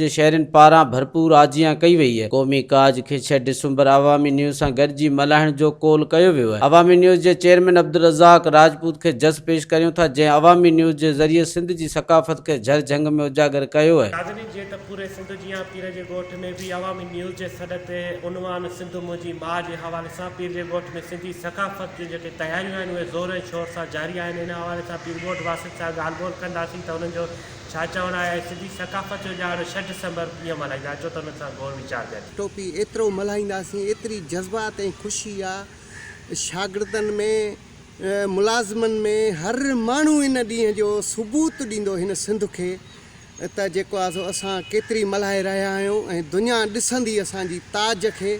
جي شهرين پاران ڀرپور آجيان ڪئي وئي هي قومي ڪاج کي ڇهه ڊسمبر عوامي نيوز سان گڏجي ملهائڻ جو قول ڪيو ويو هي عوامي نيوز جي چيئرمين عبدالرزاق راجپوت کي جس پيش ڪريون ٿا جنهن عوامي نيوز جي ذريعي سنڌ جي ثقافت کي جهر جهنگ ۾ اجاگر ڪيو هي. ناظرين جيئن ته پوري سنڌ جيان پير جي ڳوٺ ۾ به عوامي نيوز جي سڏ تي عنوان سنڌ منهنجي ماء جي حوالي سان پير جي ڳوٺ ۾ سنڌي ثقافت جون جيڪي تياريون آهن اهي زور ۽ شور سان جاري آهن ان حوالي سان پيرڳوٺ واسين سان ڳالهه ٻولهه ڪنداسين ته انهن جو ڇا چوڻ آهي ۽ سنڌي ثقافت جو ڏهاڙو ڇهه ڊسمبر ڪيئن ملهائيندا اچو ته انهن سان غور ويچار ڪريون. ٽوپي ايترو ملهائينداسين ايتري جذبات ۽ خوشي آ شاگردن ۾ ملازمن ۾ هر ماڻهو ان ڏينهن جو ثبوت ڏيندو هن سنڌ کي ته جيڪو آ سو اسان ڪيتري ملهائي رهيا آهيون ۽ دنيا ڏسندي اسان جي تاج کي.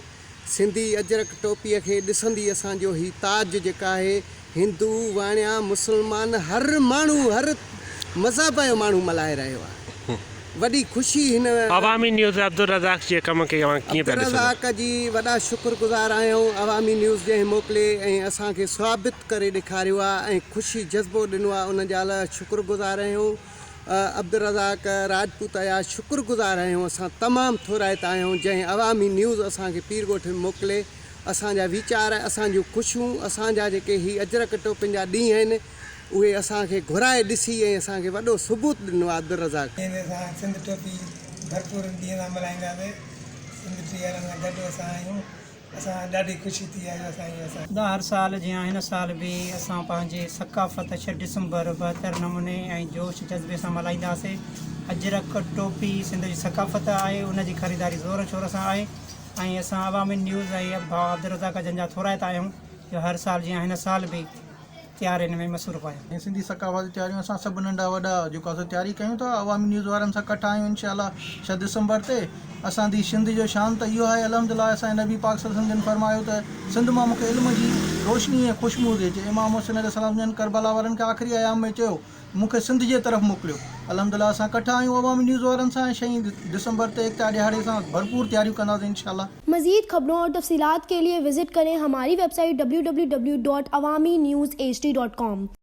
سنڌي اجرڪ ٽوپيء کي ڏسندي اسان جو هي تاج جيڪا آهي هندو، واڻيا، مسلمان هر ماڻهو هر مذهب جو ماڻهو ملهائي رهيو آهي. وڏي خوشي هن. عوامي نيوز ۾ عبدالرزاق جي ڪم کي اوهان ڪيئن پيا ڏسندا؟ عبدالرزاق جي وڏا شڪر گذار آهيون عوامي نيوز جنهن موڪلي ۽ اسان کي ثابت ڪري ڏيکاريو آهي ۽ خوشي جذبو ڏنو آهي ان جا لاء شڪر گذار آهيون. عبدالرزاق راجپوت عياش شڪر گذار آهيون اسان تمام ٿورائتا آهيون جنهن عوامي نيوز اسان کي پير ڳوٺ ۾ موڪلي اسان جا ويچار اسان جون خوشيون اسان جا جيڪي هي اجرڪ ٽوپين جا ڏينهن آهن اهي اسان کي گهرائي ڏسي ۽ اسان کي وڏو ثبوت ڏنو آهي عبدالرزاق. جنهن ۾ اسان سنڌ ٽوپي ڀرپور ان ڏينهن سان ملهائينداسين سنڌ ٽيهارن سان گڏ اسان آهيون. اسان ڏاڍي خوشي ٿي آهي اسان جي اسان. دا هر سال جيان هن سال به اسان پنهنجي ثقافت ڇهه ڊسمبر بهتر نموني ۽ جوش جذبي سان ملهائينداسي اجرڪ ٽوپي سنڌ جي ثقافت آهي ان جي خريداري زور شور سان آهي ۽ اسان عوامي نيوز ۽ اڀا عبدالرزاق جن جا ٿورائتا آهيون جو هر سال جيان هن سال به تيارين ۾ مصروف آهيان. ۽ سنڌي ثقافتي تياريون اسان سڀ ننڍا وڏا جيڪو اسان تياري ڪيون ٿا عوامي نيوز وارن سان ڪٺا آهيون انشاء الله ڇهه دسمبر تي اسان دي شنڌ جو شان ته اهو آهي الحمد لله اسان جي نبي پاڪ صلي الله عليه وسلم جن فرمايو ته سنڌ مان مونکي علم جي روشني ۽ خوشبو ٿي اچي امام حسين عليه السلام جن ڪربلا وارن کي آخري ايام ۾ چيو مون کي سنڌ جي طرف موڪليو. الحمدالله اسان ڪٺا آهيون عوامي نيوز وارن سان ۽ شئين ڊسمبر تي ايڪتا ڏيهاڙي سان ڀرپور تياريون ڪنداسين انشاءالله. مزيد خبرون اور تفصيلات کے ليے وزٽ کرين ھماري ويب سائيٽ www.awaminews hd.com.